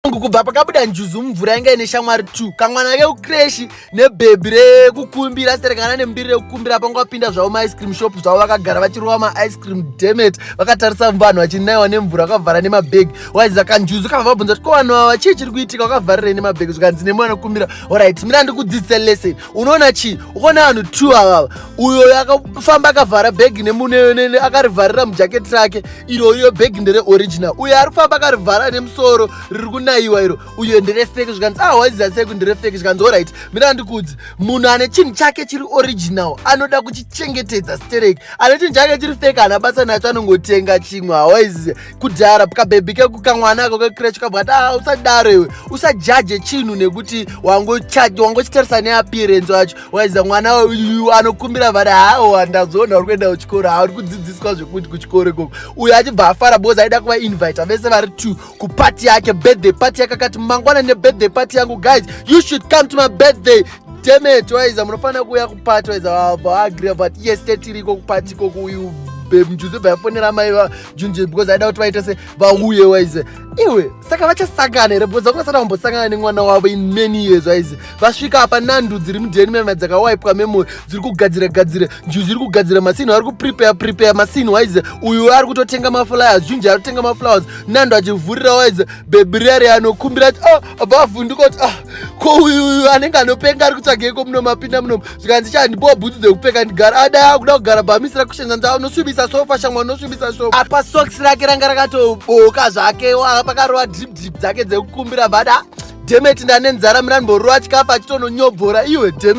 Mungu kubva pakabuda njuzu mumvura yanga ine shamwari 2 kamwana kekukreshi nebhebhi rekukumbira asi tarekana nemudiri rekukumbira pangu vapinda zvavo maice cream shop zvavo vakagara vachirova maice cream demet vakatarisa vanhu vachinaiwa nemvura vakavhara nemabhegi waiziva kanjuzu kava vabvunza kuti ko vanhu vava chii chiri kuitika vakavharirei nemabhegi zvikanzi nemwana kukumbira orit mira ndikudzidzise lesson unoona chii ukaona vanhu two avava uyo akafamba akavhara bhegi nemunene akarivharira mujaketi rake iro iyo bhegi ndere original uyo ari kufamba akarivhara nemusoro riri kunayiwa iro uyo ndere fake zvikanzi ah waiziva sei kuti ndere fake zvikanzi orit mira ndikudzi munhu ane chinhu chake chiri original anoda kuchichengetedza stereki ane chinhu chake chiri fake haana basa nacho anongotenga chimwe hawaiziva kudhara kabhebhi kekukamwana ako kecrech kabva ati ah, usadaro iwe usajaje chinhu nekuti wangochitarisa neappearance wacho waiza mwana uyu anokumbira vari hawo handazoona uri kuenda kuchikoro ha uri kudzidziswa zvekuti kuchikoro ikoko uyo achibva afara bcause aida kuvainvita vese vari two kupati yake birthday pati yake akati mangwana nebirthday pati yangu guys you should come to my birthday demet waiza munofanira kuuya kupati waiza vavaagria but yes tetiriko kupati ikoku uyu bemjuze bvayafonera mai junje because aida kuti vaite se vauye waize iwe saka vachasangana here because vakasati vambosangana nemwana wavo in many years waize vasvika apa nandu dziri mudheni mema dzakawaipwa memory dziri kugadzira gadzira njuzi iri kugadzira masini ari kuprepare prepare masini waize uyu ari kutotenga maflowers junje ari kutenga maflowers nandu achivhurira waize bebirari anokumbira oh, vavhunduka kuti ah ko uyu anenge anopenga ari kutsvageko muno mapinda muno zvikanzi cha ndipowa bhutsu dzekupfeka ndigara adaya kuda kugara bhamisi rakushenza ndaa unosvibisa sofa shamwa unosvibisa sofa apa soks rake ranga rakatoboka zvake aa pakarova drip drip dzake dzekukumbira vada dhemeti ndane nzara mira ndimborova chikafu achitononyobvora iwe dhemeti